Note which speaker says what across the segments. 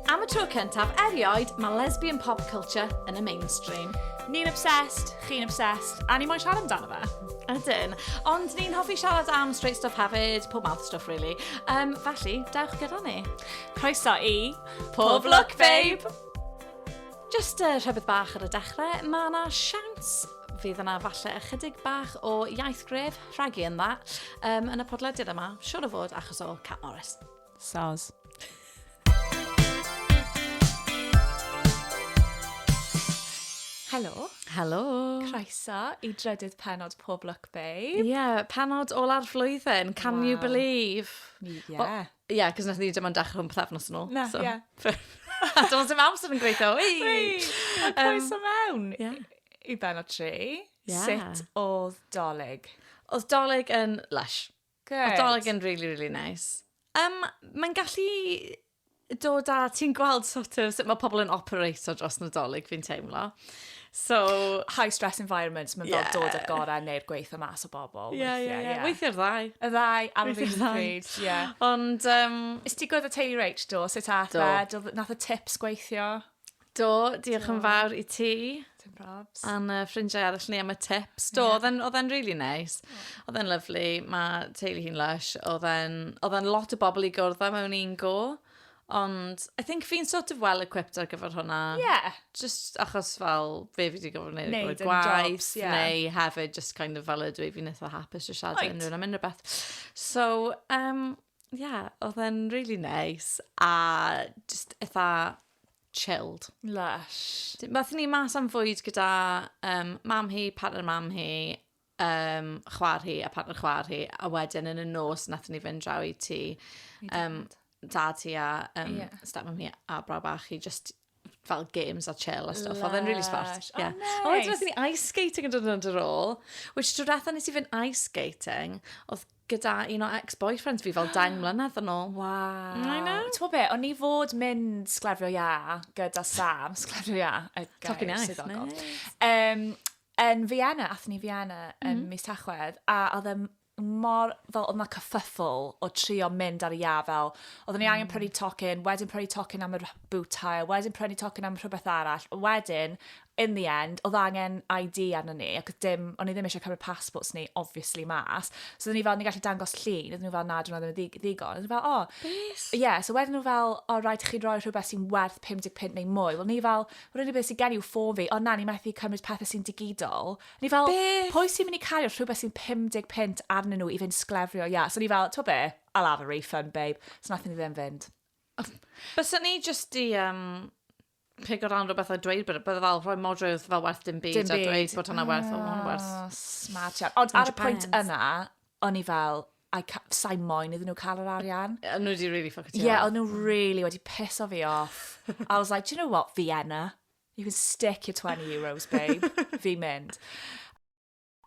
Speaker 1: Am y tro cyntaf erioed, mae lesbian pop culture yn y mainstream. Ni'n obsessed, chi'n obsessed, a ni moyn siarad amdano fe. Ydyn. Ond ni'n hoffi siarad am straight stuff hefyd, pob mouth stuff really. Um, felly, dewch gyda ni. Croeso i... Pob Look Babe! Jyst uh, rhywbeth bach ar y dechrau, mae yna siawns fydd yna falle ychydig bach o iaith gref rhagu yn dda um, yn y podlediad yma, siwr o fod achos o Cat Morris. Soz. Helo. Helo. Croeso i drydydd penod Pob Look Babe. Ie, yeah, penod ola'r flwyddyn, can yeah. you believe? Yeah. Well, Ie, yeah, cos nath ni dim ond dechrau hwn pethefnos yn ôl. Na, so. ie. Yeah. Does dim amser yn gweithio. Wei! A croeso um, mewn yeah. i ben o tri. Yeah. Sut oedd dolyg? Oedd dolyg yn lush. Good. Oedd dolyg yn really, really nice. Um, Mae'n gallu dod a ti'n gweld sort of sut mae pobl yn operato dros nadolig fi'n teimlo. So... High stress environments, mae'n fel dod o'r gorau neu'r gweithio mas o bobl. Ie, ie, ie. Weithiau'r ddau. Y ddau, ar y Weithiau'r ddau. pryd, ie. Ond, um, Is ti gwybod y teulu Rach, do? Sut ath Do. e? Do- Nath y tips gweithio? Do, diolch yn fawr i ti Dim probs. a'n uh, ffrindiau arall ni am y tips. Do, oedd e'n- oedd e'n really nice. Oedd e'n lyflu, mae teulu hi'n lush. Oedd e'n oedd e'n lot o bobl i gwrdd â mewn un go. Ond, I think fi'n sort of well equipped ar gyfer hwnna. Yeah. Just achos fel, be fi wedi gofod wneud, wneud gwaith, jobs, yeah. neu hefyd just kind of fel ydw i, fi'n eitha hapus o siarad right. unrhyw'n am unrhyw beth. So, um, yeah, oedd e'n really nice, a just eitha chilled. Lush. Math ni mas am fwyd gyda um, mam hi, partner mam hi, um, chwar hi a partner chwar hi, a wedyn yn y nos nath ni fynd draw i ti, um, da ti a um, yeah. step hi a bra bach hi, just fel games a chill a stuff. Oedd e'n really smart. Oh, yeah. Oh, nice. A wedyn ni ice skating yn dod yn yr ôl, which drwy ratha nes i fynd ice skating, oedd gyda un o ex-boyfriends fi fel deng mlynedd yn ôl. Wow. Mm, I know. Ti'n be, o'n i fod mynd sglefrio ia gyda Sam, sglefrio ia, y gair swyddogol. Nice. Um, Yn Fiena, athyn ni Fiena yn mm. mis Tachwedd, a oedd e mor, fel oedd yna cyffyffl o trio mynd ar y ia fel, oedd ni angen mm. prynu tocyn, wedyn prynu tocyn am y boot hire, wedyn prynu tocyn am rhywbeth arall, wedyn, in the end, oedd angen ID arno ni, ac dim, o'n i ddim eisiau cymryd passports ni, obviously, mas. So oedden ni fel, ni gallu dangos llun, oedden nhw fel, na, dwi'n ddim yn ddigon. Oedden nhw fel, o. Oh. Yes. Yeah, so wedyn nhw fel, o, oh, rhaid i chi roi rhywbeth sy'n werth 55 neu mwy. Wel, ni fel, rili beth sy'n gen i yw ffôn fi, ond na, ni methu cymryd pethau sy'n digidol. Ni fel, be? pwy sy'n mynd i cario rhywbeth sy'n 50 pint arnyn nhw i fynd sglefrio, ia. So ni fel, to be, I'll have a refund, babe. So nath ni ddim fynd. Bysa ni just di um, pigo lan rhywbeth a dweud, bydde bydde fel rhoi modrwy wrth fel werth dim byd, dim byd. a dweud bod hwnna werth, oh, hwnna werth. Smart, Ond ar y pwynt yna, o'n i fel, I ca- sa'i moyn iddyn nhw cael yr arian. A nhw wedi really fuck it Ie, yeah, off. o'n nhw really wedi piso fi off. I was like, do you know what, Vienna? You can stick your 20 euros, babe. Fi'n mynd.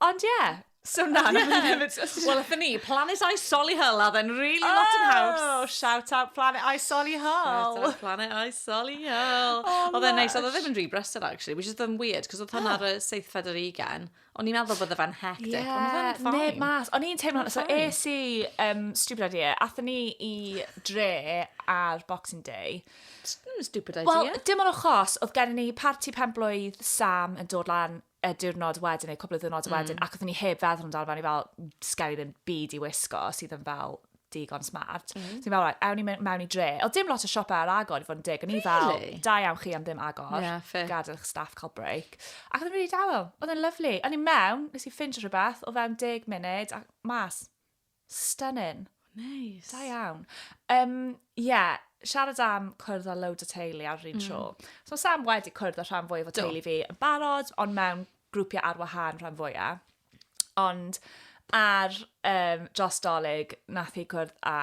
Speaker 1: Ond ie, yeah, so na, na, na, na, Wel, ydyn ni, Planet I Solihull, a then really oh, lot yn haws. Oh, shout out Planet I Solihull. Shout out Planet I Solihull. Oh, oedd e'n neis, oedd e ddim yn rhy brysur, actually, which is them weird, cos oedd hwnna ar y seithfed ar ugen. Oh. O'n i'n meddwl bydde fe'n hectic, yeah, ond oedd e'n fine. Neb mas. O'n i'n teimlo, so es i, um, stupid idea, athyn ni i dre ar Boxing Day. Hmm, stupid idea. Wel, dim ond achos, oedd gen ni parti penblwydd Sam yn dod lan y diwrnod wedyn, neu cwbl o ddiwrnod mm. wedyn, ac oeddwn ni heb feddwl amdano fe, ni fel, sgen i ddim byd i wisgo sydd yn fel digon smart. Mm. So fel, right, ewn ni mewn i dre. O, dim lot o siopau ar agor i fod yn dig. O'n i fel, da iawn chi am ddim agor. Yeah, fair. Gadael eich staff cael break. Ac oedd yn rili dawel. Oedd yn lyflu. O'n i mewn, nes i ffinch rhywbeth o fewn dig munud a mas. Stunning. Nice. Da iawn. Um, yeah, siarad am cwrdd â loads o teulu ar yr un mm. tro. So Sam wedi cwrdd â rhan fwyaf o teulu fi yn barod, ond mewn grwpiau ar wahân rhan fwyaf. Ond ar um, dros dolyg, nath hi cwrdd â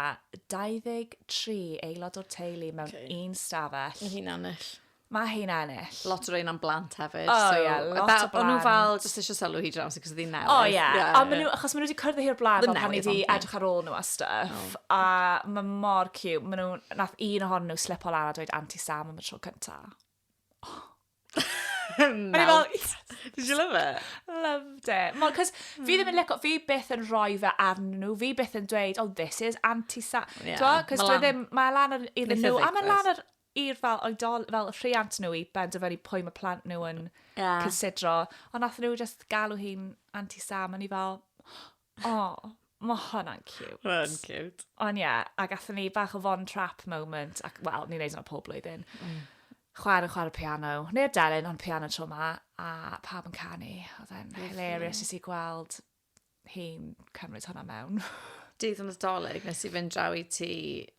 Speaker 1: 23 aelod o'r teulu mewn okay. un stafell. Mae hi'n ennill. Mae hi'n ennill. Lot o rein am blant hefyd. O, oh, so, yeah, lot about, o blant. O'n nhw fel, jyst eisiau sylw hi draws, cos ydi newydd. O, oh, yeah. yeah. A maen nhw, achos maen nhw wedi cyrdd i'r blaen, fel pan wedi edrych ar ôl nhw a stuff. Oh. A mae mor cute. Maen nhw, nath un ohonyn nhw slip o lan a dweud anti-Sam am y tro cyntaf. O'n i fel, yes! Did you love it? Loved it. Mo, cos fi ddim yn licio, fi byth yn rhoi fe arnyn nhw, fi byth yn dweud, oh, this is anti-sa... Ie, T'mo'? Cos ma' dwi lan- ddim, mae lan ar iddyn Neith e nhw, a mae ddigwydd. lan ar i'r fel oedol, fel rhiant nhw i benderfynu pwy mae plant nhw yn Ie. cysidro. Ond nath nhw just galw hi'n anti-sa, a o'n i fel, O, mae hwnna'n cute. Mae'n cute. Ond ie, yeah, a gatho ni bach o Von Trapp moment, ac wel, ni'n neud hwnna pob blwyddyn. Mm. Chwaer yn chwarae piano, neu'r delyn, ond piano tro ma, a pawb yn canu. Oedd e'n hilarious i si gweld hi'n cymryd hwnna mewn. Dydd yn y doleg, nes i fynd draw i ti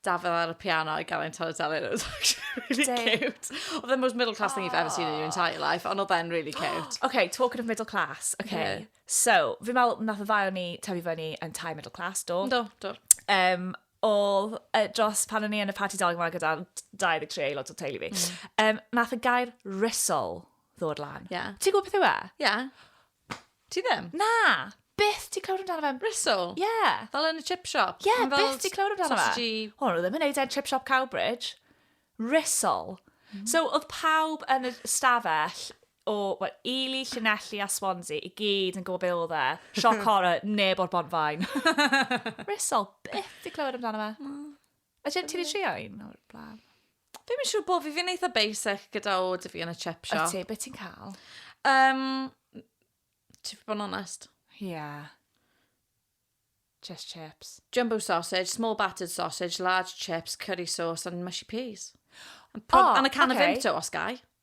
Speaker 1: Dafydd ar y piano i gael ein taro deli. It was actually really Dave. cute. Oedd the most middle class thing you've ever seen in your entire life, ond oedd e'n really cute. OK, talking of middle class. OK. Yeah. So, fi meddwl nath y ddau o'n ni tyfu fyny yn tai middle class, do? Do, do. Um, all uh, dros pan o'n i yn y party dog yma gyda 23 aelod o teulu fi. Mm. Um, nath y gair risol ddod lan. Yeah. Ti'n gwybod beth yw e? Yeah. Ti ddim? Na! Byth ti clywed amdano fe. Rissle? Ie. Yeah. Fel yn y chip shop? Ie, yeah, byth ti clywed amdano fe. Sausage... Wel, nhw ddim yn neud e'n chip shop Cowbridge. Rissle. Mm. So, oedd pawb yn y stafell o, well, Ely, Llanelli a Swansea i gyd yn gwybod be oedd e. Sioc horror, neb o'r bont fain. Rissle, byth ti clywed amdano fe. Mm. A ti wedi trio un o'r blaen? Fi'm yn siŵr bo fi, fi'n eitha basic gyda o dy fi yn y chip shop. Ydy, beth ti'n cael? Um, ti fi bod yn onest? Ie. Yeah. Just chips. Jumbo sausage, small battered sausage, large chips, curry sauce and mushy peas. And, oh, and a can okay. of Vimto, os gai.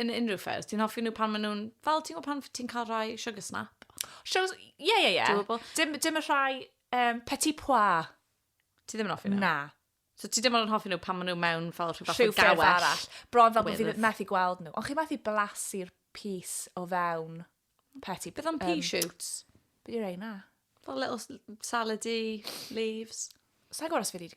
Speaker 1: yn unrhyw ffyrdd. Ti'n hoffi nhw pan maen nhw'n... Fel, ti'n gwybod pan ti'n cael rhai sugar snap? Shows... Ie, ie, ie. Dwi'n gwybod. Dim, dim y rhai um, petit pois. Ti ddim yn hoffi nhw? Na. So ti ddim yn hoffi nhw pan maen nhw mewn fel rhyw fath o gawell? Rhyw arall. Bron fel bod fi methu gweld nhw. Ond chi methu blasu'r pys o fewn petit... Beth am pea shoots? Beth yw'r ein na? Fel little salady leaves. Sa'n gwybod os fi wedi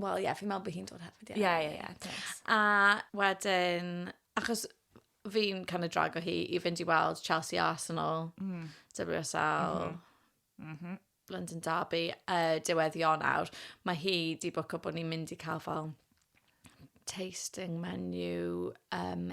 Speaker 1: Wel, ie, yeah, fi'n meddwl bod hi'n dod hefyd, ie. Ie, ie, ie. A wedyn, achos fi'n kind of drago hi i fynd i weld Chelsea Arsenal, mm. WSL, mm -hmm. Mm -hmm. London Derby, uh, diwedd Ionawr. Mae hi di bwco bod ni'n mynd i cael fel tasting menu um,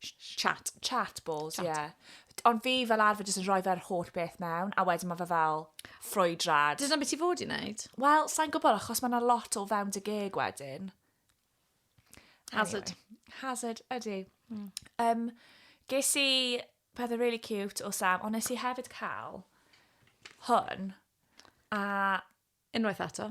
Speaker 1: Chat. Chat balls, ie. Yeah. Ond fi fel arfer jyst yn rhoi fe'r holl beth mewn, a wedyn mae fe fel ffrwydrad. Dyna beth i fod i wneud? Wel, sa'n gwybod, achos mae yna lot o fewn dy geg wedyn. Hazard. Anyway, hazard, ydy. Mm. Um, ges i pethau really cute o Sam, ond nes i hefyd cael hwn, a... Unwaith eto.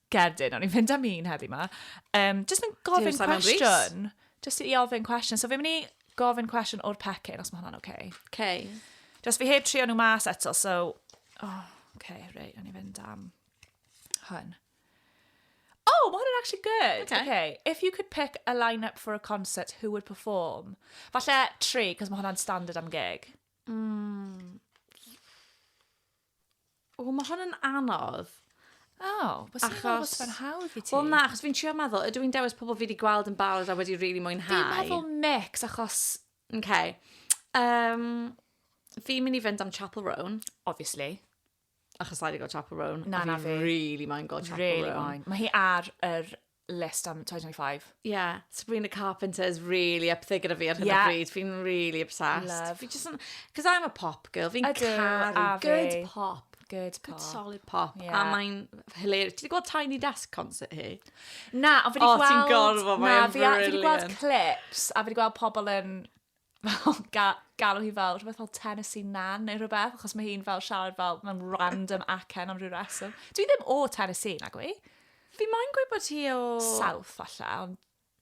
Speaker 1: Cerdyn, o'n i'n mynd am un heddi ma. Um, just yn gofyn cwestiwn. Just i ofyn cwestiwn. So fi'n mynd i gofyn cwestiwn o'r pecyn, os mae hwnna'n oce. Okay. Oce. Okay. Just fi heb trio nhw mas eto, so... Oh, okay, reit, o'n i'n mynd am hwn. Oh, mae hwnna'n actually good. Okay. okay. If you could pick a line-up for a concert, who would perform? Falle tri, cos mae hwnna'n standard am gig. Mm. O, mae hwn yn anodd. O, oh, bys i'n meddwl bod fe'n hawdd i ti. Wel na, achos fi'n trio meddwl, ydw i'n dewis pobl fi wedi gweld yn barod a wedi rili really mwynhau? Fi'n meddwl mix, achos... Okay. Um, fi'n mynd i fynd am Chapel Roan. Obviously. Achos I wedi gweld Chapel Roan. Na, na fi. Really mae'n gweld Chapel really Roan. Mae hi ar yr list am 2025. Yeah, Sabrina Carpenter is really up there gyda fi ar hyn yeah. o bryd. Fi'n really obsessed. Love. Fi just yn... Cos I'm a pop girl. Fi'n caru good pop. Good pop. Good solid pop. Yeah. A mae'n hilarious. Ti wedi gweld Tiny Desk concert hi? Na, ond fi wedi gweld... O, ti'n gorfod, mae'n brilliant. Na, fi wedi gweld clips, a fi wedi gweld pobl yn fel ga galw hi fel rhywbeth fel Tennessee Nan neu rhywbeth, achos mae hi'n fel siarad fel mewn random acen am rhyw reswm. Dwi ddim o Tennessee, nag wy? Fi moyn gweud bod hi o... South, falle, ond...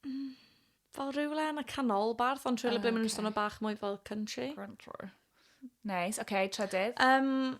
Speaker 1: Mm, fel rhywle yn y canolbarth, ond rhywle oh, ble maen nhw'n okay. swnio bach mwy fel country. Country. Neis, oce, okay, trydydd. Um,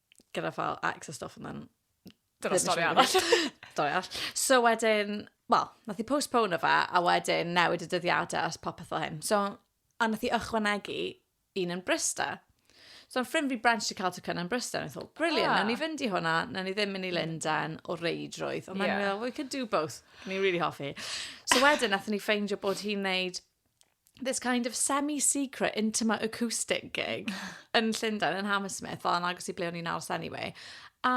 Speaker 1: gyda fel ex a stuff and then... Dyna stori arall. Stori arall. So wedyn, wel, nath i postpone fe, a wedyn newid y dyddiadau as popeth fel hyn. So, a nath i ychwanegu un yn Brista. So, yn ffrind fi Brent i cael tocynnau yn Brista, a thought, brilliant, ah. ni fynd i hwnna, na ni ddim mynd i Lundain o reidrwydd. Ond yeah. meddwl, we could do both. Ni really hoffi. So wedyn, nath ni ffeindio bod hi'n neud this kind of semi-secret, intimate acoustic gig yn Llundain, yn Hammersmith, fel yn agos i ble o'n i'n aros anyway. A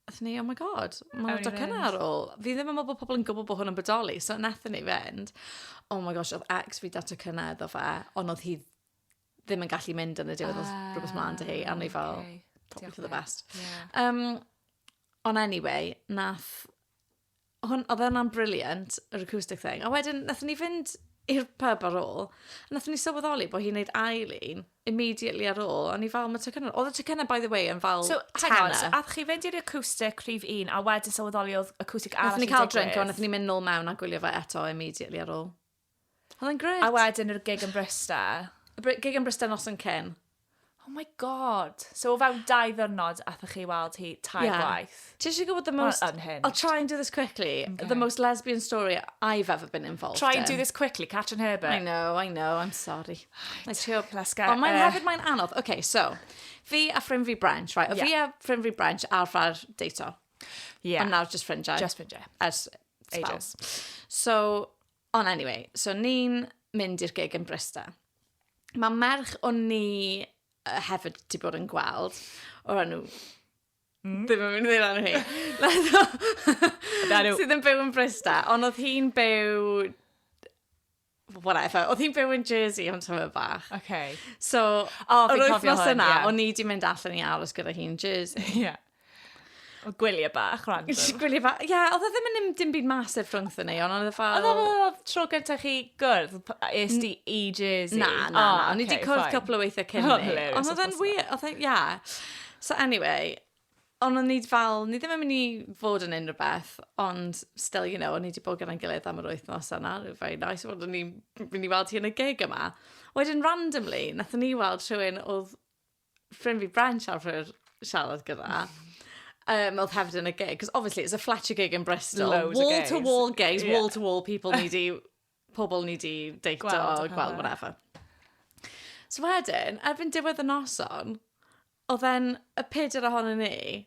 Speaker 1: Athyn ni, oh my god, mae'n edrych yna ar ôl. Fi ddim yn meddwl bod pobl yn gwybod bod hwn yn bodoli, so nathyn ni fynd. Oh my gosh, oedd ex fi dato cynna iddo fe, ond oedd hi ddim yn gallu mynd yn y diwedd, oedd ah, rhywbeth mlaen dy hi, a ni fel, probably for the best. Um, ond anyway, nath hwn, oedd hwnna'n briliant, yr acoustic thing. A wedyn, nath ni fynd i'r pub ar ôl, a nath ni sylweddoli bod hi'n neud ail un, immediately ar ôl, a ni fel, mae tocynna, oedd y tocynna, by the way, yn fel so, tenner. So, ath chi fynd i'r acoustic rhif un, a wedyn sylweddoli oedd acoustic arall yn digwydd. Nath ni cael drink, a nath ni mynd nôl mewn a gwylio fe eto immediately ar ôl. Oedd e'n grêt. A wedyn yr gig yn Brysta. Y br- gig yn Brysta noson cyn. Oh my god. So o fewn dau ddwrnod athoch chi weld hi tair yeah. gwaith. Ti eisiau gwybod the most... I'll try and do this quickly. Okay. The most lesbian story I've ever been involved Try and do this quickly, Catrin Herbert. I know, I know, I'm sorry. Right. Trio... Let's get... Ond mae'n uh, hefyd mae'n anodd. Okay, so, fi a ffrind fi Branch, right? O yeah. fi a ffrind fi Branch arfer deito. Yeah. Ond nawr just ffrindiau. Just ffrindiau. As ages. So, Ond anyway, so ni'n mynd i'r gig yn Brysta. Mae merch o'n ni uh, hefyd wedi bod yn gweld o'r enw Mm. Ddim yn mynd i ddweud hi. Nath Sydd yn byw yn Brysta, ond oedd hi'n byw... Whatever. Oedd hi'n byw yn Jersey am tyma bach. Okay. So, oh, yr wythnos yna, yeah. o'n i wedi mynd allan i aros gyda hi'n Jersey. Yeah. O gwyliau bach, random. Gwyliau bach, ia, oedd e ddim yn dim byd massive rhwngth yn ei, ond oedd e fel... Oedd e fel tro gyntaf chi gwrdd, es di i Jersey? Na, na, na, oh, ni wedi cwrdd cwpl o weithiau cyn ni. Ond oedd e'n wir, oedd e'n, ia. So anyway, ond o'n i fel, ni ddim yn mynd i fod yn unrhyw beth, ond still, you know, o'n i wedi bod gyda'n gilydd am yr wythnos yna, it was very nice, ond o'n i'n mynd i weld hi yn y gig yma. Wedyn, randomly, nath ni weld rhywun oedd ffrind fi Branch arfer siarad gyda, um, oedd hefyd yn y gig, because obviously it's a fletcher gig in Bristol, Loads wall to wall gigs, yeah. wall to wall people ni di, pobl ni di deito, gweld, gweld whatever. So wedyn, erbyn diwedd y noson, oedd e'n y peder ohono ni,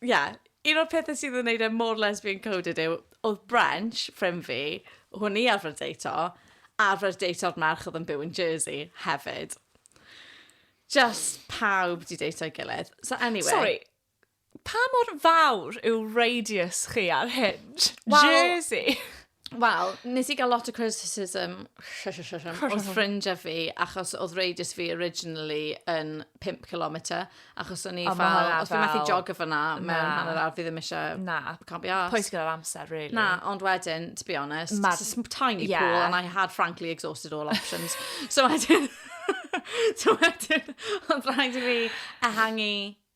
Speaker 1: Ie, un o'r pethau sydd yn neud e mor lesbian coded yw, oedd Brensh, ffrind fi, hwn i arfer deito, arfer deito'r merch oedd yn byw yn Jersey hefyd. Just pawb di deito'i gilydd. So anyway. Sorry, pa mor fawr yw radius chi ar Hinge? Wel- Jersey? Wel, nes i gael lot o criticism o'r ffrindiau fi, achos oedd radius fi originally yn 5 km, achos o'n i fel, os fi methu jogger fyna, mewn hanner awr, fi ddim eisiau... Na. Can't be arsed. Poeth gyda'r amser, really. Na, ond wedyn, to be honest, Ma... it's a tiny yeah. pool, and I had frankly exhausted all options. so wedyn... so wedyn, ond rhaid i fi ehangu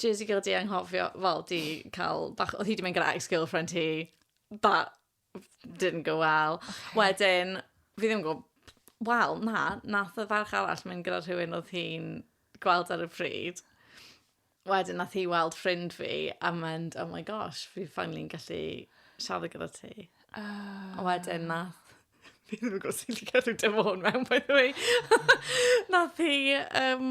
Speaker 1: Jyst i gael dy anghofio, wel, 'di cael bach... Oedd hi 'di mynd gyda ex-girlfriend hi. That didn't go well. Wedyn, fi ddim yn gwybod... Wel, na, wnaeth y ferch arall mynd gyda rhywun oedd hi'n gweld ar y pryd. Wedyn, wnaeth hi weld ffrind fi a mynd, "Oh my gosh, fi finally yn gallu siarad gyda ti." A wedyn wnaeth... Fi ddim yn gwybod sut i cadw dim o hwn mewn, by the way. Wnaeth hi, yym...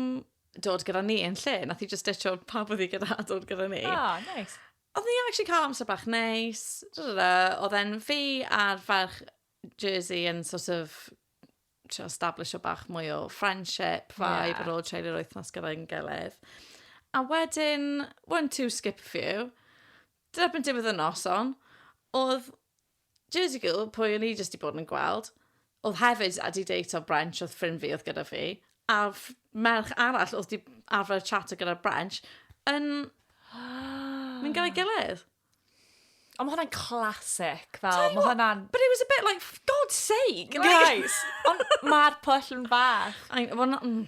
Speaker 1: dod gyda ni yn lle. Nath i just ditcho pawb oedd i gyda a dod gyda ni. Oh, nice. Oedd ni actually cael amser bach neis. Oedd e'n fi a'r ferch Jersey yn sort of trio establish o bach mwy o friendship, vibe yeah. ar ôl treulio'r wythnos gyda'n gilydd. A wedyn, one, two, skip a few. Dyna byn diwedd y noson, oedd Jersey Girl, pwy o'n i jyst 'di bod yn gweld, oedd hefyd wedi date o Brench, oedd ffrind fi oedd gyda fi, a merch arall oedd 'di arfer chat gyda Brench, yn mynd gyda'i gilydd. Ond mae hwnna'n classic, fel, mae hwnna'n... But it was a bit like, for God's sake! Guys, ond mae'r pwll yn fach. I, well, not, mm,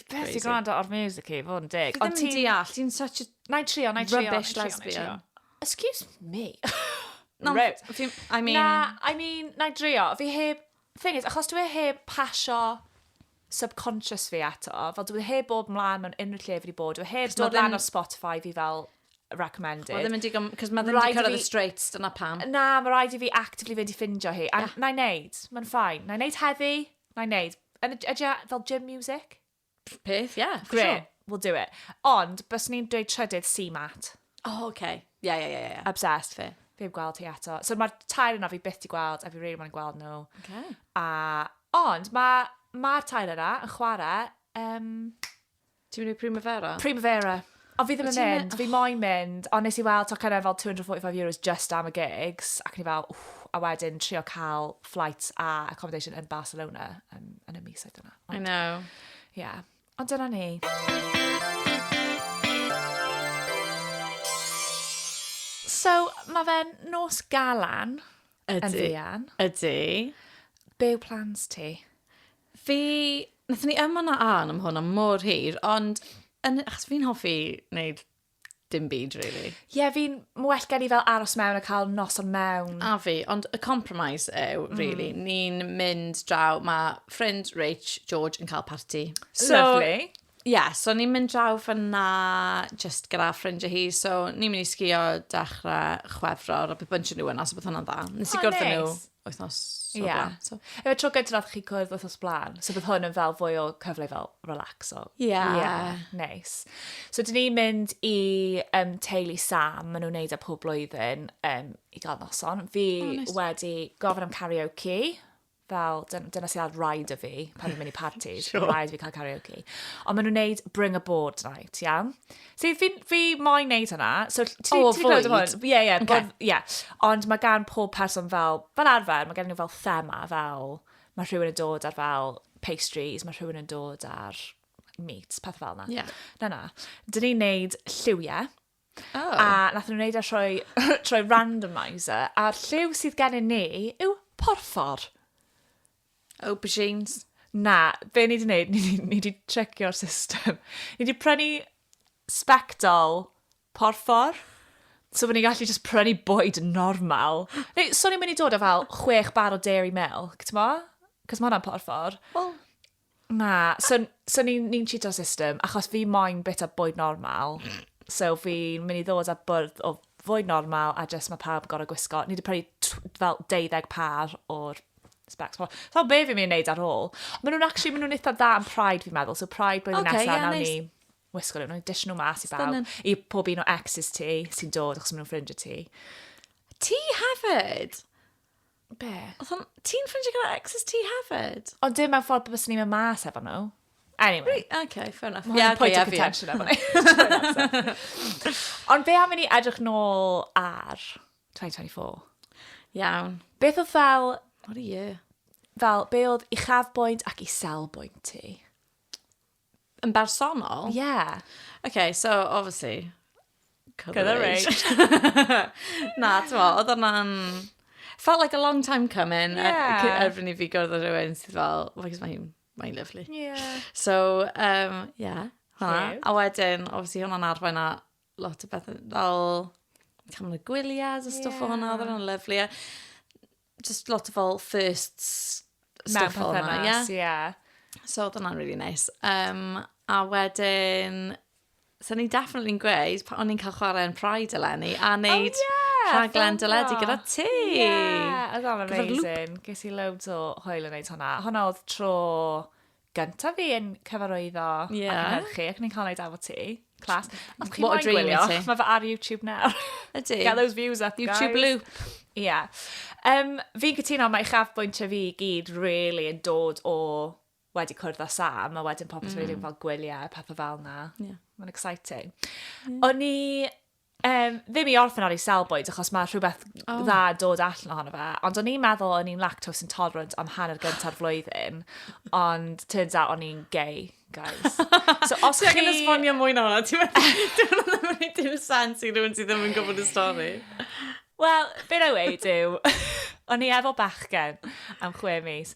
Speaker 1: Beth sy'n gwrando ar music i, fod yn dig. Ti ddim yn deall, ti'n such a... Na i trio, na i trio. Rubbish lesbian. Excuse me. no, I mean... Na, I mean, na i drio. Fi heb... Thing is, achos dwi e heb pasio subconscious fi eto, fel dwi e heb bob mlaen mewn unrhyw lle fi wedi bod, dwi e heb dod lan o Spotify fi fel recommended. Mae ddim yn digon, cos mae ddim yn cyrraedd y straits, dyna pam. Na, mae rhaid i fi actively fynd i ffindio hi. A na i wneud, mae'n ffain. Na i wneud heddi, Na i wneud. Yn y- Ydy o fel gym music? Peth, ie. for Great, sure. we'll do it. Ond, bys ni'n dweud trydydd CMAT. O, oce. Ie, ie, ie, ie. Obsessed. Fair. Fi heb gweld hi eto. So mae'r tair yna fi byth di gweld, a fi really moyn gweld nhw. Oce. A, ond, mae ma tair yna yn chwarae um, Ti'n mynd i Primavera? Primavera. Ond fi ddim yn mynd, fi moyn mynd, ond nes i weld to cynnar fel 245 euros just am y gigs, ac ni fel, wff, a wedyn trio cael flights a accommodation yn Barcelona yn, yn y mis oedd yna. Ond, I know. Ie. Yeah. Ond dyna ni. So, mae fe'n nos galan. Ydy. Yn fuan. Ydy. Be yw plans ti? Fi, nath ni yma na an am hwn am mor hir, ond yn, achos fi'n hoffi wneud dim byd, really. Ie, yeah, fi'n well gen i fel aros mewn a cael nos o'n mewn. A fi, ond y compromise yw, mm. really, mm. ni'n mynd draw, mae ffrind Rach, George, yn cael party. So, Lovely. Ie, so ni'n mynd draw fan'na jyst gyda ffrindiau hi, so ni'n mynd i sgïo dechrau Chwefror, a bydd bunch o nhw yna, so bydd hwnna'n dda. Nes i oh, gwrdd nhw wythnos o'r yeah. blaen. So. Efe tro gyda nath chi cwrdd wythnos blaen, so bydd hwn yn fel fwy o cyfle fel relaxo. Ie. Yeah. Yeah, nice. So dyn ni'n mynd i um, teulu Sam, maen nhw'n neud e pob blwyddyn um, i gael noson. Fi oh, nice. wedi gofyn am karaoke. fel, dyna sy'n cael rhaid o fi pan dwi'n mynd i parties, sure. rhaid fi cael karaoke. Ond maen nhw'n neud bring a board night, ia? Yeah? So fi, fi moyn neud hwnna. So, ti, oh, ti gwneud hwn? Ie, ie. Okay. Yeah. Ond mae gan pob person fel, fel arfer, mae gan nhw fel thema, fel, mae rhywun yn dod ar fel pastries, mae rhywun yn dod ar meat, peth fel yna. Yeah. Na, na. Dyn ni'n neud lliwiau. Oh. A nath nhw wneud e trwy, trwy randomizer, a'r lliw sydd gennym ni yw porffor. Aubergines. Na, be ni wedi gwneud, ni, ni, ni wedi tricio'r system. Ni wedi prynu spectol porffor, so bod ni'n gallu just prynu bwyd normal. Neu, so ni'n mynd i dod o fel chwech bar o dairy milk, ti'n mo? Cos mae hwnna'n porffor. Wel, Na, so, so ni'n ni cheato system, achos fi moyn bit o bwyd normal. So fi'n mynd i ddod â bwrdd o fwyd normal, a jyst mae pawb yn gorau gwisgo. Ni wedi prynu tw- fel 12 par o'r specs. So be fi'n mynd i wneud ar ôl? Maen nhw'n actually, maen nhw'n eitha dda yn Pride fi'n meddwl. So Pride blwyddyn okay, nesaf, yeah, nawn nice. ni wisgo nhw. Nawn ni dishyn nhw mas i bawb. Stunning. I pob un o exes ti sy'n dod, achos maen nhw'n ffrind y ti. Ti hefyd? Be? Oedd o'n... Ti'n ffrindiau gyda exes ti hefyd? Ond dim mewn ffordd bys ni'n mynd mas efo nhw. Anyway. OK, fair enough. Mae'n yeah, okay, point of contention efo ni. Ond fe am i ni edrych nôl ar 2024. Iawn. Beth oedd fel... What a year. Fel, be oedd uchafbwynt ac iselbwynt ti? Yn bersonol? Ie. Yeah. Okay, so, obviously, Colour Rage. Na, ti'n mo, oedd hwnna'n... Felt like a long time coming. Ie. Erbyn i fi gwrdd o rhywun sydd fel, oh, because mae'n mae lovely. Ie. Yeah. So, um, yeah. Hwna. A wedyn, obviously, hwnna'n arwain a lot o bethau fel camera gwyliau a stwff yeah. o hwnna, oedd hwnna'n lyflu. just lot o fel firsts stuff fel yna. Mewn perthynas, ie. Yeah. So, oedd hwnna'n really nice. Um, a wedyn, so ni definitely yn gweud, pa o'n i'n cael chwarae yn Pride eleni, a oh, neud oh, yeah, rhaglen dyledi gyda ti. Yeah, oedd o'n amazing. Ges i loads o hwyl yn neud hwnna. Hwna oedd tro gyntaf fi yn cyfarwyddo yeah. ac yn erchu, ac ni'n cael neud efo ti. Clas. Os chi moyn gwylio, mae fe ar YouTube nawr. Ydy. Get those views up, YouTube guys. YouTube loop. Ie. Yeah. Um, fi'n cytuno, mae uchafbwyntio fi i gyd really yn dod o wedi cwrdd â Sam, a wedyn popeth mm. wedi fel gwyliau a pethau fel na. Yeah. Mae'n exciting. Yeah. O'n i Um, ddim i orffen ar ei selbwyd, achos mae rhywbeth oh. dda dod allan ohono fe. Ond o'n i'n meddwl o'n i'n lactose intolerant am hanner gyntaf flwyddyn, ond turns out o'n i'n gay, guys. So os chi... Ti'n esbonio mwy na hwnna, ti'n meddwl ddim yn ei dim sens i rhywun sydd ddim yn gwybod y stori. Wel, beth o'i weid yw, o'n i efo bachgen am chwe mis,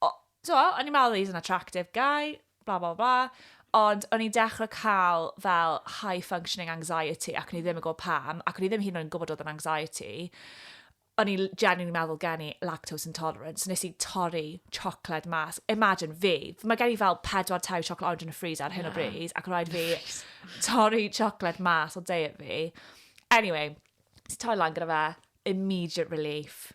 Speaker 1: o, t'mo', o'n i'n meddwl he's an attractive guy, blah, blah, blah, ond o'n i'n dechrau cael fel high functioning anxiety ac o'n i ddim yn gwybod pam, ac o'n i ddim hyd yn oed yn gwybod oedd yn anxiety. O'n i genuinely meddwl gen i lactose intolerance, nes i torri chocolate mas. Imagine fi, mae gen i fel pedwar tair chocolate orange yn y freezer ar hyn o bryd, ac rhaid fi torri chocolate mas o deir fi. Anyway, ti torri lan gyda fe, immediate relief.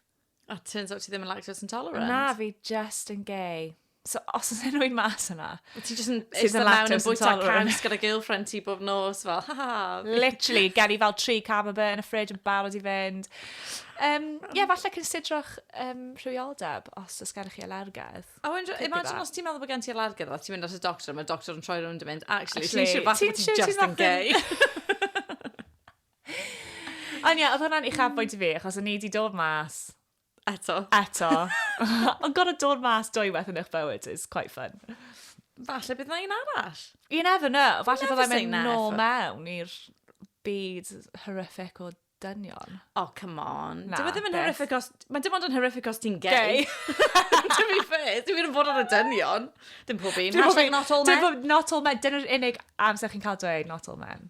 Speaker 1: A turns out ti ddim yn lactose intolerant. Na, fi just yn gay. So, os oes enw i'n mas yna... Ti just yn eistedd mewn yn bwyta caws gyda girlfriend ti bob nos, fel, ha ha. Literally, gen i fel tri camembert yn y ffrid yn barod i fynd. Um, yeah, falle considerwch um, rhywioldeb os oes gennych chi alergedd. A oh, imagine os ti'n meddwl bod gen ti alergedd, ti'n mynd at y doctor, mae'r doctor yn troi rhywun yn mynd, actually, ti'n siŵr fath ti'n just yn gay. Ond ie, oedd hwnna'n uchafbwynt i fi, achos o'n i wedi dod mas... Eto. Eto. Ond gorau dod mas dwy waith yn eich bywyd is quite fun. Falle bydd na un arall. You never know. Falle byddai'n mynd nôl mewn i'r byd horrific o dynion. Oh, come on. Na, Dyw e ddim yn horrific os... Mae dim ond yn horrific os ti'n gay. to be fair, dwi'n mynd yn bod ar y dynion. Dim pob un. Hashtag not all men. Not all men. Dyna'r unig amser chi'n cael dweud not all men.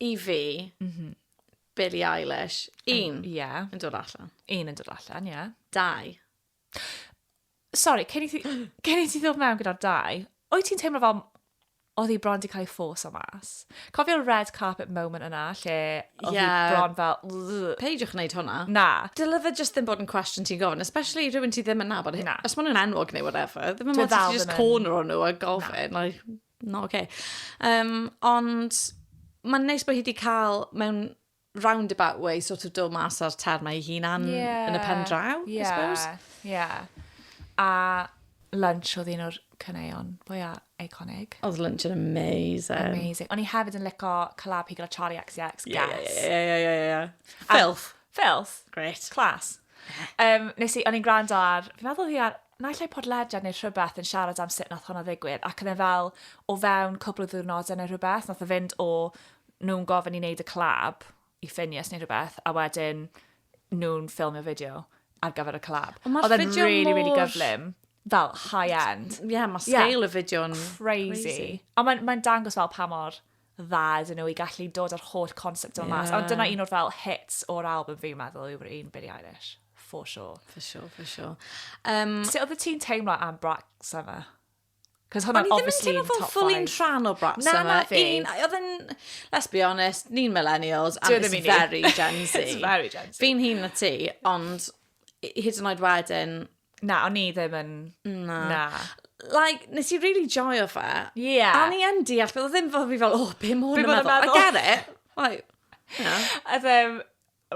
Speaker 1: i fi, mm -hmm. Billie Eilish, un yn, yeah. yn dod allan. Un yn dod allan, ie. Yeah. Dau. Sorry, cyn i ti, cyn i ti ddod mewn gyda'r dau, o'i ti'n teimlo fel oedd hi bron wedi cael ei ffos o mas. Cofio'r red carpet moment yna, lle oedd yeah. hi bron fel... Peidiwch wneud hwnna. Na. Dyla fe just ddim bod yn cwestiwn ti'n gofyn, especially rhywun ti ddim yn nabod. Na. Os maen nhw'n enwog neu whatever, ddim yn mynd to just corner o'n nhw a gofyn. Na. Like, No, oce. Okay. Um, ond mae'n neis bod hi wedi cael mewn roundabout way sort of dod mas o'r termau ei hunan yeah. yn y pen draw, yeah. I suppose. Yeah. A lunch oedd un o'r cyneuon fwya eiconig. Oedd lunch yn amazing. Amazing. O'n i hefyd yn lico collab hi gyda Charlie XCX. Ie, ie, ie, ie. Filth. Filth. Great. Class. Um, nes i, o'n i'n gwrando ar, fi'n meddwl hi ar naill ai podlediad neu rhywbeth yn siarad am sut nath hwnna ddigwydd ac oedd e fel o fewn cwpl o ddiwrnodau neu rhywbeth nath o fynd o nhw'n gofyn i wneud y collab i Ffinias neu rhywbeth a wedyn nhw'n ffilmio fideo ar gyfer y collab. Ond mae'r fideo mor... really, really gyflym. Fel high-end. Ie, yeah, mae scale yeah. y fideo'n crazy. crazy. Ond mae'n mae dangos fel pa mor dda iddyn nhw i gallu dod â'r holl concept yma mas. Yeah. Ond dyna un o'r fel hits o'r album fi'n meddwl yw'r un Billie Eilish. For sure. For sure, for sure. Um, Sut oedd y ti'n teimlo am Black Summer? Cos hwnna, O'n i ddim yn teimlo fel ffully'n rhan o Black Na, Summer. na fi. Un, oedd yn, let's be honest, ni'n millennials, and it's very Gen Z. it's very Gen Z. Fi'n hun na ti, ond hyd yn oed wedyn, Na, o'n i ddim yn... Na. Na. Like, nes i really joio fe. Ie. A o'n i yn deall, fel ddim fel fi fel, oh, be ma hwn yn meddwl? I get it. Like, you know. A ddim,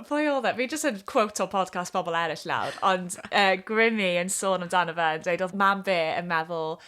Speaker 1: pwy oedd e? Fi jyst yn quote o podcast bobl eraill lawr, ond uh, Grimmy yn sôn amdano fe, yn dweud oedd mam fe yn meddwl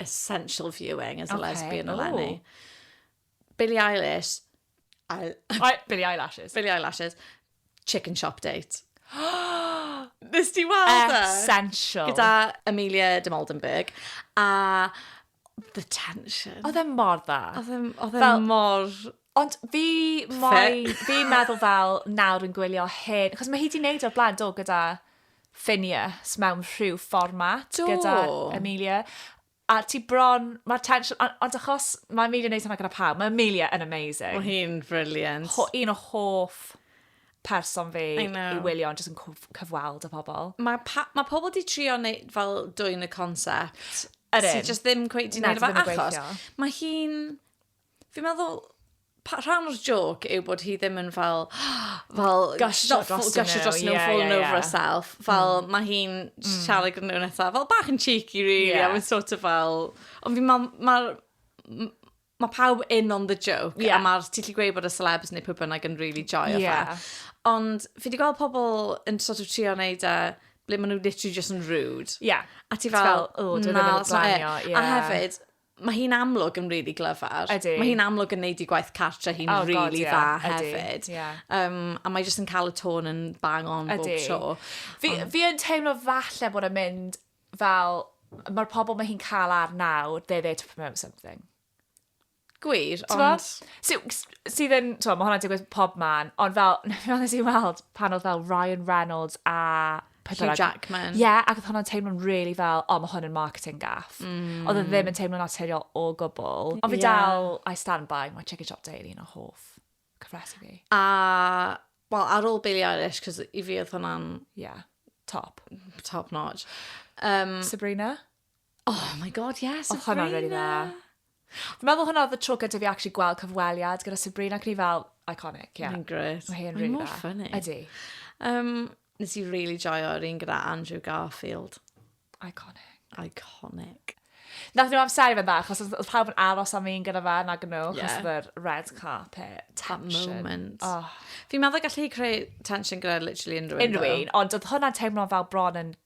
Speaker 1: essential viewing as a okay. lesbian eleni. Billie Eilish. I, I, Billie Eyelashes. Billie Eyelashes. Chicken Shop Date. Nes ti weld e? Essential. Gyda Amelia de Moldenberg. A the tension. Oedd e mor dda. Oedd e mor... Ond fi moyn, fi'n meddwl fel nawr yn gwylio hyn, achos mae hi di wneud o'r blaen do gyda Phineas mewn rhyw fformat do. gyda Amelia. A ti bron, mae'r tension, ond, ond achos mae Amelia wneud hynna gyda pawb, mae Amelia yn amazing. Mae hi'n brilliant. Ho, un o hoff person fi i wylio ond jyst yn cyfweld y pobl. Mae ma pobl di trio neu, fel dwy'n y concept. Yr un. Sy'n just ddim cweith di wneud efo achos. Mae hi'n Fi'n meddwl pa- rhan o'r joc yw bod hi ddim yn fel, fel Gusho not dros full- gusho nhw, dros nhw, ie, fallen ie, over ie. herself. Fel, mm. mae hi'n mm. siarad gyda nhw'n eitha, fel bach yn cheeky, really, yeah. a mae'n sort of fel... Ond fi'n meddwl, mae'r... m- Mae pawb in on the joke, yeah. a mae'r ti'n gallu gweud bod y celebs neu pwy bynnag yn really joio yeah. fe. Ond fi wedi gweld pobl yn sort of trio wneud e ble maen nhw literally just yn rude. Yeah. A ti fel, fel oh, na, that's not it. Yeah. A hefyd, Mae hi'n amlwg yn really glyfar. Ydy. Mae hi'n amlwg yn neud i gwaith cartre hi'n oh, really God, yeah. dda hefyd. Ydy, yeah. um, a mae jyst yn cael y tôn yn bang on Ydy. bob tro. Fi, um, fi yn teimlo falle bod yn mynd fel, mae'r pobl mae hi'n cael ar nawr, they're there to promote something. Gwir, ond... Sydd sy yn, to, mae hwnna'n digwydd pob man, ond fel, nes i weld pan oedd fel Ryan Reynolds a Hugh Jackman. Ie, yeah, ac oedd hwnna'n teimlo'n really fel, o, oh, mae hwn yn marketing gaff. Mm. Oedd e ddim yn teimlo'n naturiol o gwbl. Ond fi yeah. dal, I stand by, mae Chicken Shop Daily yn o hoff cyfresu fi. A, well, ar ôl Billie Eilish, cos i fi oedd hwnna'n... Yeah, top. Top notch. Um, Sabrina? Oh my god, yeah, Sabrina! Oedd hwnna'n really dda. Dwi'n meddwl hwnna oedd y tro gyda fi actually gweld cyfweliad gyda Sabrina, ac ni fel, iconic, ie. Yeah. Mae'n gret. Mae hyn really dda. Mae'n funny. Ydy. Um, nes i really joio'r un gyda Andrew Garfield. Iconic. Iconic. Nath nhw amseru fe dda, achos oedd pawb yn aros am un gyda fe nag nhw, achos yeah. yr red carpet tension. That moment. Oh. Fi'n meddwl gallu creu tension gyda literally unrhyw un. Unrhyw un, ond oedd hwnna'n teimlo fel bron yn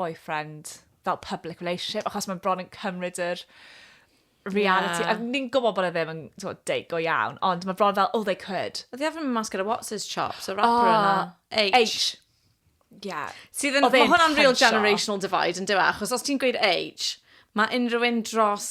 Speaker 1: boyfriend fel public relationship, achos mae'n bron yn cymryd yr reality. Yeah. Ni'n gwybod bod e ddim yn so, deig go iawn, ond mae bron fel, oh, they could. Oedd i haven't mas gyda What's His Chops, y rapper oh, yna. H. H. Yeah. Sydd yn, mae hwnna'n real generational divide yn diwa, e, achos os ti'n gweud H, mae unrhyw un dros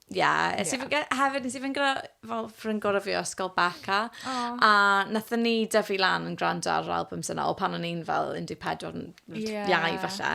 Speaker 1: Ia, nes i fy- ge- hefyd, nes i fynd gyda fel ffrind gorau fi o ysgol Becca, Oh. a nathon ni dyfu lan yn gwrando ar yr albums yna, o pan o'n i'n fel 14 yn Ie. iau falle.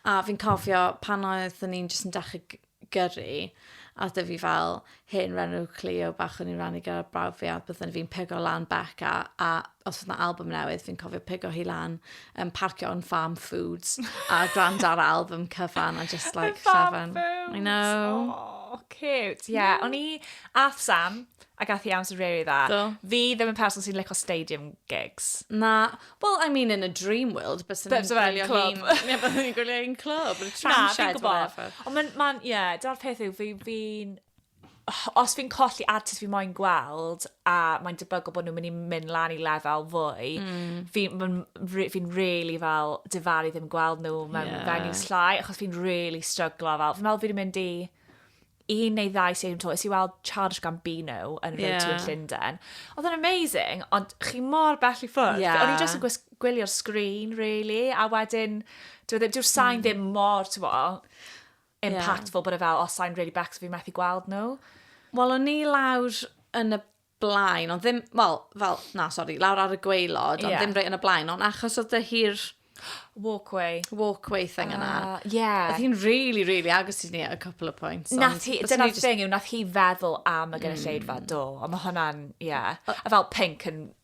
Speaker 1: A fi'n cofio pan oeddwn ni'n jyst yn dechrau g- gyrru, a oedd 'da fi fel hen renw Clio bach o'n i'n rannu gyda brawd fi, a byddwn fi'n pigo lan Becca, a os oedd na album newydd, fi'n cofio pigo hi lan, um, parcio yn Farm Foods, a grand ar album cyfan, a just like llafan. I know. Oh, cute. Yeah, o'n i, ath Sam, a gath i amser rili dda. Do. Fi ddim yn person sy'n licio stadium gigs. Na, well, I mean, in a dream world, bys yn Bys yn gwylio clwb. hi'n... Ie, bys yn gwylio hi'n clwb, yn Na, tram fi'n shed, gwybod. whatever. Ond mae'n, mae'n, ie, dyna'r peth yw, fi, fi'n, os fi'n colli artist fi moyn gweld, a mae'n debygol bod nhw'n mynd i mynd lan i lefel fwy, mm. fi'n fi, fi really fel difaru ddim gweld nhw mewn yeah. venue slai, achos fi'n really stryglo fel, fi'n meddwl fi'n mynd i un neu ddau sy'n to, ys i weld Charles Gambino yn y yeah. yn Llundain. Oedd yn amazing, ond chi mor bell i ffwrdd. Yeah. O'n i jyst yn gwylio'r sgrin, really, a wedyn, dyw'r e ddim, dyw'r sain mm. ddim mor, ti'n impactful yeah. bod e fel, oh, sa'n really becs, fi methu gweld nhw. Wel, o'n ni lawr yn y blaen, ond ddim, wel, fel, na, sori, lawr ar y gweilod, ond yeah. ddim rei yn y blaen, ond achos oedd dy hi'r... Walkway. Walkway thing uh, yna. Ah, yeah. Oedd hi'n really, really agos i ni at a couple of points. Nath hi, dyna'r just... thing yw, nath hi feddwl am y gynulleidfa, mm. do. Ond mae hwnna'n, yeah. A fel pink yn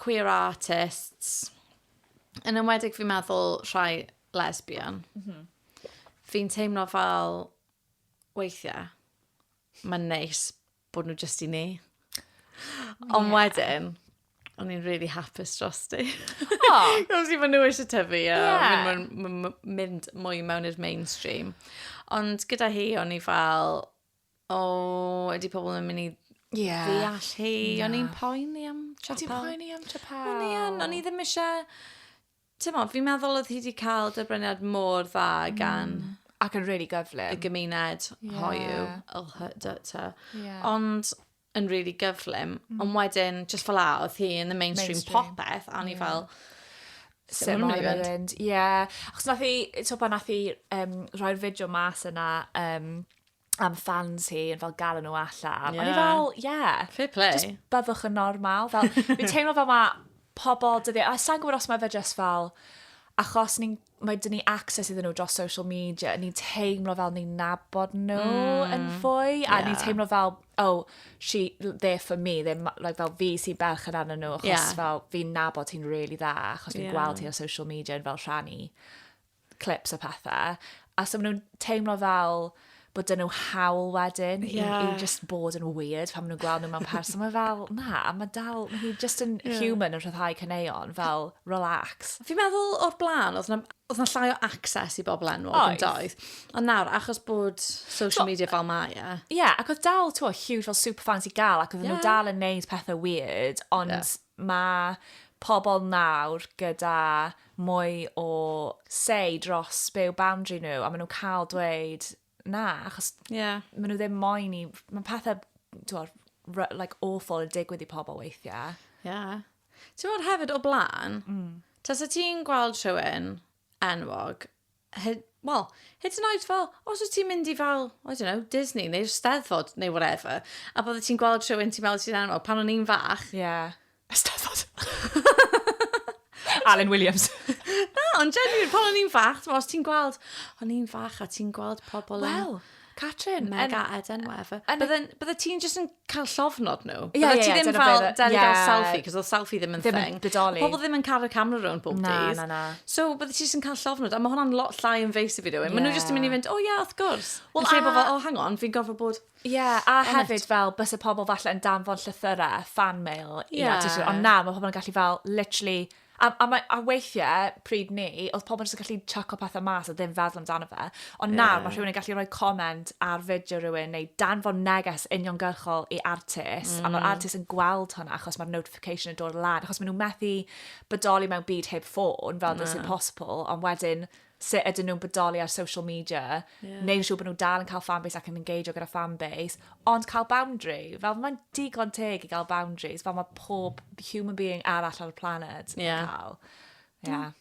Speaker 1: queer artists, yn enwedig fi'n meddwl rhai lesbian, mm -hmm. fi'n teimlo fel weithiau, mae'n neis bod nhw jyst i ni. Ond yeah. wedyn, o'n i'n really hapus dros ti. Oh. Cos i fy nhw eisiau tyfu a yeah. mynd, mynd mwy mewn i'r mainstream. Ond gyda hi, o'n i fel, O, ydy pobl yn mynd i yeah. ddeall hi. No. O'n i'n poeni am Chapel. O'n i'n poeni am Chapel. O'n i yn, o'n i ddim eisiau... Ti'n mo, fi'n meddwl oedd hi wedi cael dyrbreniad mor dda mm. gan... Mm. Ac yn really gyflym. Y gymuned yeah. hoiw. Yeah. Ond, yn really gyflym, mm. ond wedyn, just fel a, oedd hi yn y mainstream, mainstream. popeth, a ni yeah. fel, Sut mor yn mynd. Ie. Achos nath i, to pan nath i um, rhoi'r fideo mas yna um, am fans hi yn fel galw nhw allan. Yeah. O'n i fel, ie. Yeah, Fair play. Just byddwch yn normal. Fel, fi'n teimlo fel mae pobl dyddiau, a sa'n gwybod os mae fe just fel, achos ni'n mae dyn ni access iddyn nhw dros social media, ni'n teimlo fel ni'n nabod nhw mm. yn fwy, yeah. a ni'n teimlo fel, oh, she, there for me, they're, like, fel fi sy'n berch yn arnyn nhw, achos yeah. fel fi'n nabod hi'n really dda, achos fi'n yeah. gweld hi ar social media yn fel rhannu clips a pethau, a so maen nhw'n teimlo fel, bod dyn nhw hawl wedyn yeah. i, i just bod yn weird pan maen nhw'n gweld nhw mewn person. Mae fel, na, mae dal, mae hi just yn yeah. human yn rhyddhau cyneuon, fel relax. Fi'n meddwl o'r blaen, oedd na, oedd na llai o access i bobl enwog yn doedd. Ond nawr, achos bod social media fel mae e. Ie, ac oedd dal, ti'n huge fel superfans i gael, ac oedd yeah. nhw dal yn neud pethau weird, ond yeah Mae pobl nawr gyda mwy o say dros be yw boundary nhw a maen nhw'n cael dweud na achos yeah. maen nhw ddim moyn i... Mae pethau twod, like, awful yn digwydd i pobl weithiau. Ie. Yeah. Ti'n bod hefyd o blaen, mm. tas y ti'n gweld rhywun enwog, Hyd, wel, hyd yn oed fel, os wyt ti'n mynd i fel, I don't know, Disney neu'r Steddfod neu whatever, a bod ti'n gweld rhywun ti'n meddwl sy'n anwag, pan o'n i'n fach... Ie. Yeah. Eisteddfod. Alun Williams. Na, ond genuine, pan o'n i'n fach, ti'n os ti'n gweld, o'n i'n fach a ti'n gweld pobl yn... Wel, Catrin. Mega yn, Eden, whatever. Bydde ti'n just yn cael llofnod nhw. Ie, yeah, ie, yeah, dyna fel, beth... Dyna yeah. selfie, cos oedd selfie ddim yn ddim thing. Ddim bodoli. Pobl ddim yn cael y camera rhwng pob na, dydd. Na, na, na. So, bydde ti jyst yn cael llofnod, a mae hwnna'n lot llai yn feis i fi rhywun. Yeah. Mae nhw jyst yn mynd i fynd, o oh, ie, yeah, wrth gwrs. Wel, a... Bod fel, oh, hang on, fi'n gofio bod... Ie, yeah, a on hefyd it. fel, bys y pobl falle yn danfon llythyrau, fan mail, yeah. i artistiaid. Ond na, mae pobl yn gallu fel, literally, A, a, mae, a weithiau, pryd ni, oedd pobl jyst yn gallu chucko pethau mas a ddim feddwl amdano fe. Ond yeah. nawr mae rhywun yn gallu rhoi comment ar fideo rhywun neu danfon neges uniongyrchol i artist. Mm. A mae'r mm. artist yn gweld hwnna achos mae'r notification yn dod lan. Achos maen nhw'n methu bodoli mewn byd heb ffôn fel dys i'n posibl. Ond wedyn, sut ydyn nhw'n bodoli ar social media, yeah. neu'n siŵr bod nhw dal yn cael fanbase ac yn engageio gyda fanbase, ond cael boundary, fel mae'n digon teg i gael boundaries, fel mae pob human being arall ar y planet yn yeah. cael. Yeah. Mm.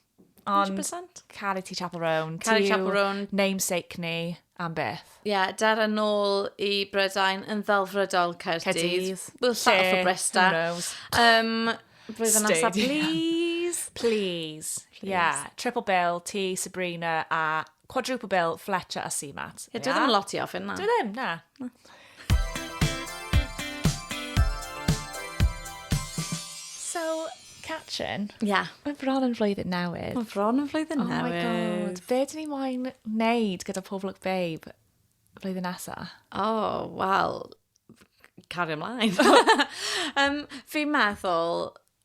Speaker 1: Ond 100%. Caru ti Chapel Roan. Caru Chapel Roan. Namesake ni. Am beth? Ie, dere nôl i Brydain yn ddelfrydol Caerdydd. Caerdydd. We'll Lle? settle for Bristol. Who knows? Um, blwyddyn nesaf, please. Please. Ie. Yeah. Triple bill, ti, Sabrina, a quadruple bill, Fletcher a Seamat. Ie, dwi ddim yn lot i ofyn na. Dwi ddim, na. So, Catrin. Ie. Yeah. Mae bron yn flwyddyn newydd. Mae bron yn flwyddyn oh newydd. Oh my god. Be dyn ni moyn wneud gyda Pob Look Babe flwyddyn nesa? Oh, wel, cario ymlaen. um, fi'n meddwl,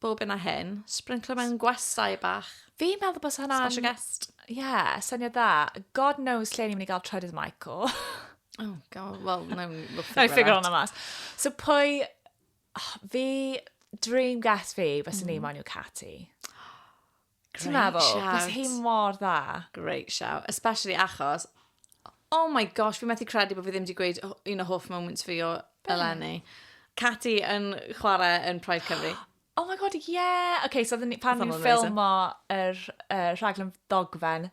Speaker 1: Bob hyn a hyn. Sbrinclo mewn gwestai bach. Fi'n meddwl bod hwnna'n... Special guest. Ie, yeah, syniad da. God knows lle ni'n mynd i gael trydydd Michael. oh, god. Wel, no, we'll figure, no, figure on that. mas. So pwy... Oh, fi... Dream guest fi, fes mm. ni moyn yw Catty. Ti'n meddwl? Bys hi mor dda. Great shout. Especially achos, oh my gosh, fi methu credu bod fi ddim wedi gweud un o hoff moments fi o eleni. Cati yn chwarae yn Pride Cymru. Oh my god, yeah! Okay, so pan ni'n ffilmo yr uh, rhaglen dogfen,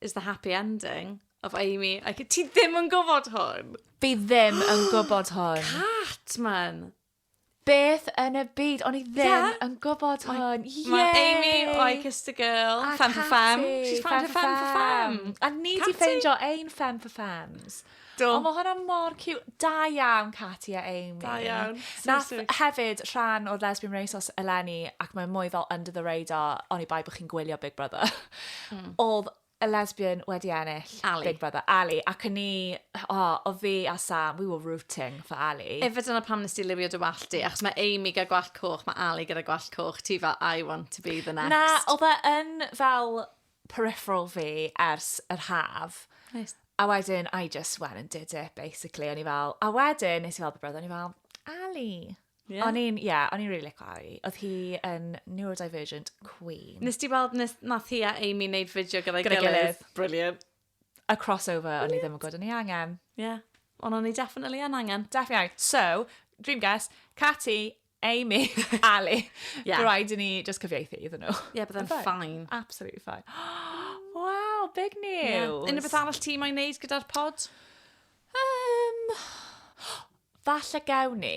Speaker 1: is the happy ending of Amy. Like, ti ddim yn gwybod hwn. Fi ddim yn gwybod hwn. Cat, man. Beth yn y byd? O'n i ddim yeah. yn gwybod hwn. Yay! Mae Amy, I kissed a girl, a femme for femme. She's found her femme for femme. A ni di ffeindio ein femme for femmes. Do. O, mae hwnna mor cute. Da iawn, Katie a Amy. Da iawn. Nath hefyd rhan o'r Lesbian Renaissance eleni, ac mae'n mwy fel under the radar, oni bai bod chi'n gwylio Big Brother. Mm. Oedd y lesbian wedi ennill Ali. Big Brother, Ali, ac yn ni, o, oh, o fi a Sam, we were rooting for Ali. Efe dyna pam nes ti liwio dy wallt di, achos mae Amy gyda gwallt coch, mae Ali gyda gwallt coch, ti fel, I want to be the next. Na, oedd e yn fel peripheral fi ers yr haf. Nice. A wedyn, I just went and did it, basically. O'n i fel, a wedyn, nes i fel brother, o'n i fel, Ali. Yeah. O'n i'n, ie, yeah, o'n i'n really licio Ali. Oedd hi yn neurodivergent queen. Nes ti weld, nes, nath hi a Amy wneud fideo gyda'i gyda'i gilydd? Brilliant. y crossover o'n i ddim yn gwybod o'n i angen. Ie. Yeah. Ond o'n i definitely yn angen. Definitely. So, dream guest, Cati, Amy, Ali. Yeah. Bydd rhaid i ni just cyfieithu iddyn nhw. Ie, yeah, byddai'n Byddai. fine. Absolutely fine. wow, big Yeah. news. Unrhyw beth arall ti mae'n neud gyda'r pod? Um, falle gewn ni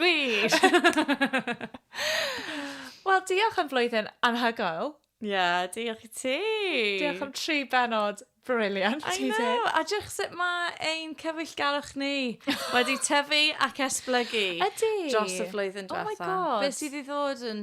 Speaker 1: Gwych! Wel, diolch am flwyddyn anhygoel. Ie, yeah, diolch i ti. Diolch am tri benod briliant. I know, a diolch sut mae ein cyfeillgarwch ni wedi tyfu ac esblygu. Ydy. Dros y flwyddyn diwethaf. Oh my god. Beth sydd i ddod yn